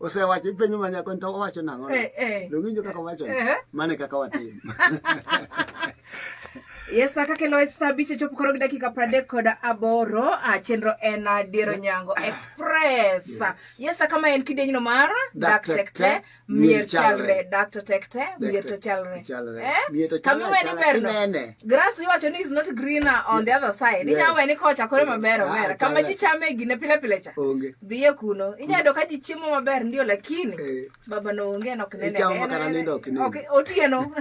osewacho ipenjo ma nyako to owacho nang'o eh, eh. lowinjo kaka owacho eh, mane kaka watim Yes, kaka loe saa bicho chopo koro gi dakika pradek kod aboro ah, chenro en ah, diero nyango ah. express yes kama en kidenyno mar dak tekte mier chalre dak to tekte mier to chalre kama iweni berno grass iwacho ni is not greener on the other side inya weni kocha koro maber ober kama ji chame gine pile pile cha Dhiye kuno. Inyado ka ji chiemo maber ndio lakini eh. baba no onge no kinene. Ichamo kana nindo kinene. Okay, otieno.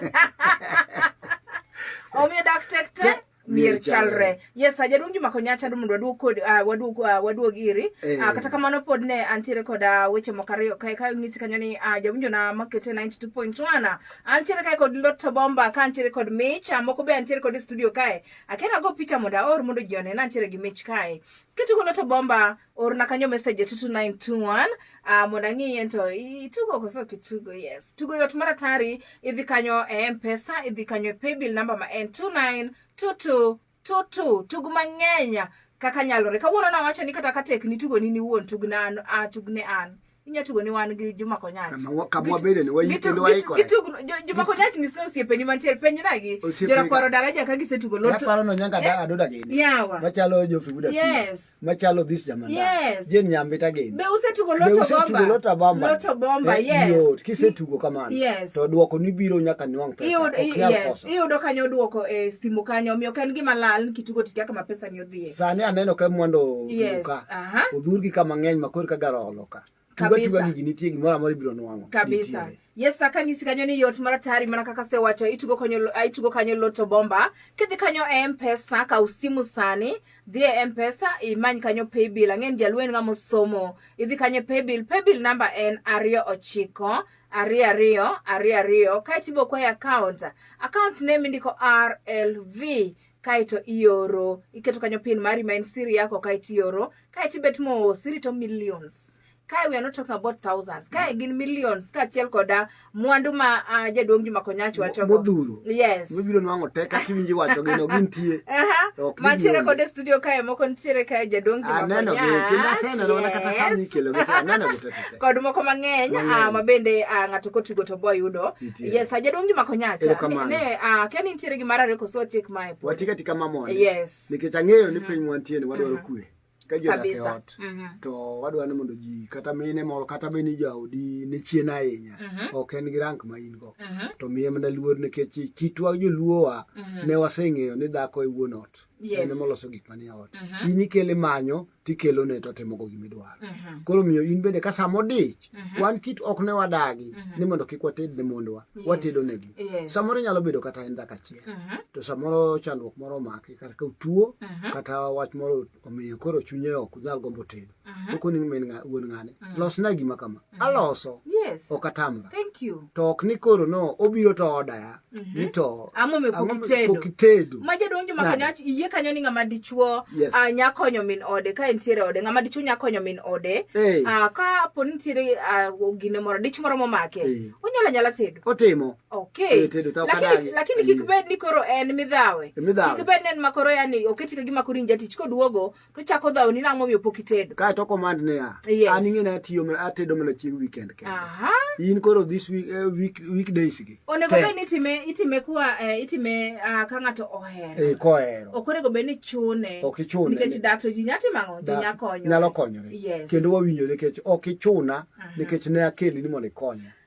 Omiyo dak tek tek mier chalre yes jaduong juma konyacha mondo waduog kod uh, waduog uh, waduog iri eh. uh, kata kamano pod ne antiere kod uh, weche moko ariyo kae kae ng'isi kanyo ni uh, jawinjona makete 92.1 antiere kae kod loto bomba ka antiere kod mich uh, moko be antiere kod studio kae akena go picha mondo aor mondo ji one na antiere gi mich kae kitigo loto bomba orna kanyo message to 2921 uh, ah, mondo ang'iye to itugo koso kitugo yes tugo yot mar atari idhi kanyo e mpesa idhi kanyo e paybill number ma en 292222 tug mang'eny kaka nyalore kawuono nawacho ni kata ka tek ni tugo ni niwuon tugne an, uh, tugne an. inya tugo ni wan gi Juma Konyach. Kama wabede ni wayi kendo wayi kore. Gitugo Juma Konyach ni sio osiepeni mantie penye nagi. Jora kwaro daraja ka gisetugo loto. Aparo no nyanga da eh, adoda gini. Yawa. Machalo jo figuda. Yes. Machalo this jamanda. Yes. Jen nyambita gini. Be usetugo loto bomba. Be usetugo loto bomba. Loto bomba eh, yes. Yot kisetugo kamano. Yes. To duoko ni biro nyaka nwang pesa. Iyudo yes. Iyudo kanyo duoko e simu kanyo omiyo kan gima lal kitugo tikia kama pesa ni Sani aneno ka mondo oduka. Odhurgi ka mang'eny ma koro ka garo olo ka. Tuga tuga gigi nitie gimoro amoro ibiro nwang'o. Kabisa. Nitiere. Yes, saka nisi kanyo ni yot mara tari mana kaka se wacho itugo kanyo ah, itugo kanyo loto bomba. Kidhi kanyo e Mpesa ka usimu sani, dhi e Mpesa imany kanyo paybill. Ang'en jalwen ngamo somo. Idhi kanyo paybill, paybill number en ariyo ochiko ariyo ariyo ariyo ariyo kae tibo kwa account account name indiko RLV kaeto ioro iketo kanyo pin mari ma en siri yako kaeto ioro kaeto ibet mos irito millions kae we are not talking about thousands kae mm. gin millions kaachiel koda mwandu ma uh, jaduong' Juma Konyach wachogo modhuro yes mibiro nwang'o tek kaka iwinji wacho gino gintie mantiere kod e studio kae moko nitiere kae jaduong' Juma ah, Konyach kod moko mang'eny ah, ma bende ah, ng'ato kotugo to boyudo Yes, yes ajaduong' Juma Konyacha. Ne, ne uh, kia ni nitiere gimoro ariyo koso watiek mae. Watiek katika mamon. Yes. Nikech ang'eyo ni mhm. piny mwantie ni wadwaro mhm. kue. Ka ji odak e ot. Mhm. To wadwaro ni mondo ji kata mine moro kata bed ni jaodi ne chien ahinya. Ok en gi rank ma in go. To miye mana luor nikech kitwa joluowa ne waseng'eyo ni dhako e wuon ot. Yes. En moloso gik manie ot. In ikele manyo tikelone to timogo gima idwaro mhm. koro miyo in bende ka sama odich mhm. wan kit ok ne wadagi mhm. ni mondo kik wated ne mondwa watedonegi samoro nyalo bedo kata en dhaka achiel to samoro chandruok moro omaki kata ka utuo kata wach moro omiyo koro chunye ok nyal gombo tedo okoning min wuon ng'ane losna gima kama Mm-hmm. aloso yes. ok atamra to ok ni koro no obiro to odaya mm -hmm. ni to ang'omepokitedo ma jadonjo ma kanyo iye kanyo ni ng'ama dichuo yes. uh, ah, nya konyo min ode ka entiere ode ng'ama dichuo nya konyo min ode hey. uh, ah, ka po nitiere uh, gine moro dich moro momake hey. onyala nyala tedo otimo okay. hey, tedo to lakini, lakini kik bed ni koro en midhawe e kik bed ni en makoro yani oketi ka gima koro injatich koduogo to chako dhawo ni nang'o momiyo pok itedo kae to command ne ya yes. an ing'e na tiyo mana atedo mana chieng weekend ke aha in koro this week uh, week weekdays gi onego be ni time itime kwa uh, eh, itime uh, ah, ka ngato ohero eh kohero ok onego be ni chune ok ichune nikech dak to ji nyati mango ji nya konyo nyalo konyore yes. kendo wawinjore nikech ok ichuna uh -huh. nikech ne akeli ni mondo ikonya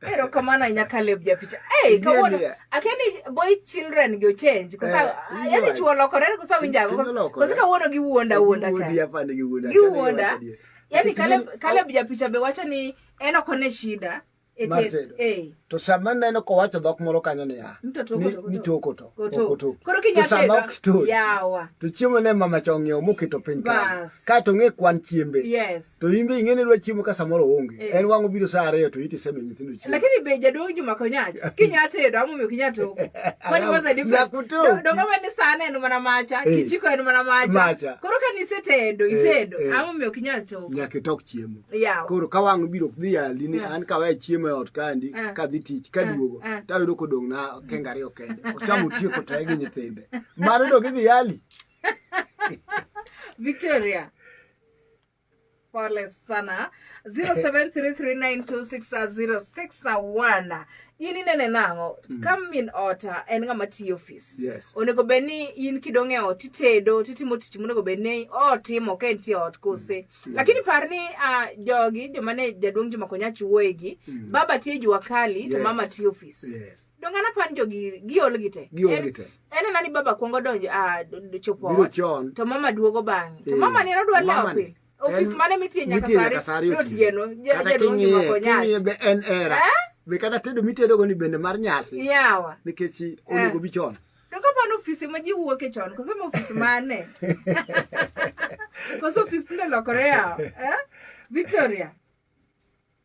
Pero kamano ahinya Caleb japicha. Hey, kawuono akeni boy children go change kosa eh, yani chuo lokore kosa winjago kosa kawuono gi wuonda wuonda ka. Gi wuonda. Yani Caleb Caleb japicha be wacho ni en ok one shida. E eh. To sama neno kowacho dhok moro kanyo niya. Ni toko to. Koto. Koro kinyatega. Yawa. To chiemo ne mama chong'iewo moketo piny kanyo. Kae to ng'e kwan chiembe. Yes. to in be ing'e ni idwa chiemo ka samoro onge eh. en wang'o biro saa ariyo to iti seme nyithindo chiemo lakini be jaduong' Juma Konyach kinya tedo ama omiyo kinya to what was the difference dongo ma ni sana en mana macha eh. kichiko en mana macha koro ka ni setedo eh, itedo ama omiyo kinya to nyaka itok chiemo koro ka wang'o biro dhi ali ni an ka wae chiemo e ot kandi ka dhi tich ka duogo to ayudo kodong' na kenga ariyo kende ochamo tieko to gi nyithinde mano dog idhi ali Victoria Pole sana 0733926061 in inene nang'o mm. ka min ota en ng'ama tiyo ofis yes. onego bed ni in kidong' e ot itedo titimo tich monego bed ni otimo ka entie ot kose mm. mm. lakini par ni uh, jogi joma ne jaduong' joma konya chuoyegi mm. baba tiyo jua kali yes. to mama tiyo ofis yes. dongana pan jogi giol gite giol gite en anani baba kwongo donjo ah, chopo biro chon to mama duogo bang'e to eh, mama ni nodwa lewo pile ofis mane mitie nyaka sari otieno jaduongi mako nyach be en era eh? be kata tedo mitedo go ni bende mar nyasi yawa nikech eh. onego bi chon to ka pano ofis ma ji wuoke chon koso ma ofis mane koso ofis tinde lokore yawa Victoria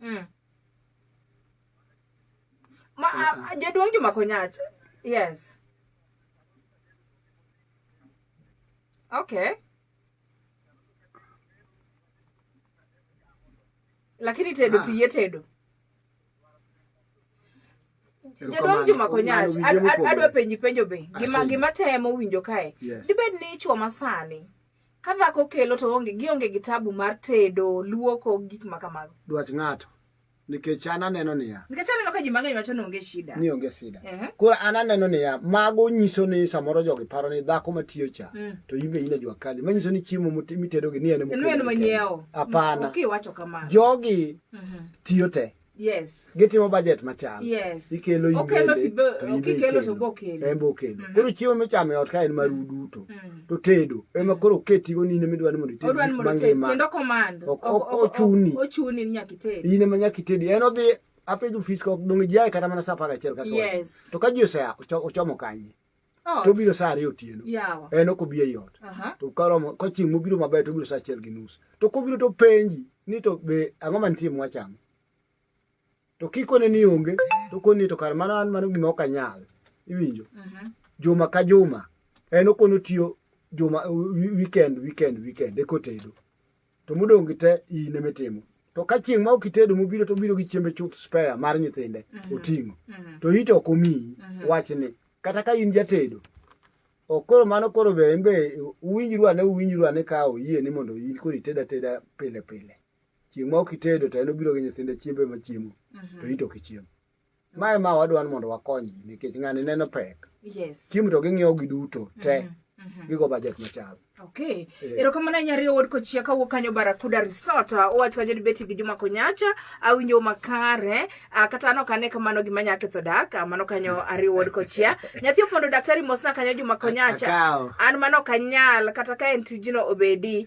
Mm. mm. Ma, a, jaduong' Juma Konyach. Yes. Okay. Lakini tedo ah. tiye tedo. Jaduong' Juma Konyach, adwa penji penjo be. Gima gima temo winjo kae. Yes. Dibed ni chwo masani Ka dhako kelo to onge gionge gi tabu mar tedo, luoko, gik ma kamago. Dwach ng'ato. Nikech an aneno niya. Nikech aneno ka ji mang'eny wacho ni onge shida. Ni onge shida. Uh -huh. Koro an aneno niya, mago nyiso ni samoro jogi paro ni dhako matiyo cha mm. to in be in e jua kali. Manyiso ni chiemo mitedogi ni en e mokelo. En manyiewo. Apana. Mm. Okay, wacho kamano. Jogi mm -hmm. tiyo te. Mm -hmm. Yes. Gitimo budget machal. Yes. Ikelo imbe. Okelo tibe, okikelo to bokelo. Embo okelo. Mm. Koro chiemo michamo e ot ka en maru mm. duto. Mm. To tedo. Ema mm. koro keti go nine midwa ni mondo ited. Odwa ni mondo ited. Kendo command. Ochuni. Ochuni ni nyaka ited. Ine ma nyaka ited. En odhi apedo fish kok dong jiaye kata mana sa apar gachiel ka yes. to ka ji osea ochomo kanye Ot. to obiro saa ariyo otieno Yawa. en ok obi ei ot Aha. to karomo ka chieng' mobiro maber to obiro saa achiel gi nus to kobiro to penji ni to be ang'o mantie mwachamo to kikone ni onge to koni to kar mano an mano gima ok anyal iwinjo Mhm. juma ka juma en okono tiyo juma wi- weekend weekend weekend ekotedo to modong' gi te in ema itimo to ka chieng' ma ok itedo mobiro to obiro gi chiembe chuth spare mar nyithinde mhm. oting'o mhm. to ite ok omiyi mhm. wachni kata ka in jatedo ok koro mano koro be en be uwinjru ane uwinjru ane ka oyie ni mondo in koro ited ateda pile pile chieng' ma ok itedo to en obiro gi nyithinde chiembe ma chiemo to ite ok ichiemo ma ema wadwa ni mondo wakony ji nikech ng'ani neno pek Yes. chiemo to ging'iewo gi duto te Mhm, mhm. gigo bajet machal Okay. Eh. Erokamano ahinya riyo wuod kochia kawuok kanyo Barakuda Resort. Ah, Owacho ajod beti gi Juma Konyacha, awinjo makare. Ah, kata an ok ane kamano gima nya ketho dak, ah, mano kanyo ariyo wuod kochia. Nyathi opondo daktari mosna kanyo Juma Konyacha. Akawo. An mano ok anyal kata ka en tijno obedi.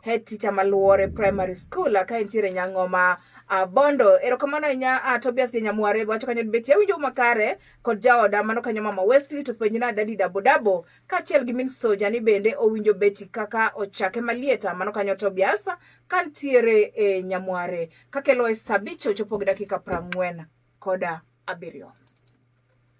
Head teacher Maluore Primary School ka entiere Nyang'oma uh, Bondo. Erokamano ahinya uh, Tobias Janyamware wacho kanyo beti awinjo makare kod jaoda mano kanyo mama Wesley to penjna dadi dabo dabo kaachiel gi min soja ni bende owinjo beti kaka ochake malieta mano kanyo Tobias kantiere e eh, Nyamware kakelo e sabicho chopo gi dakika prang'wen koda abiriyo.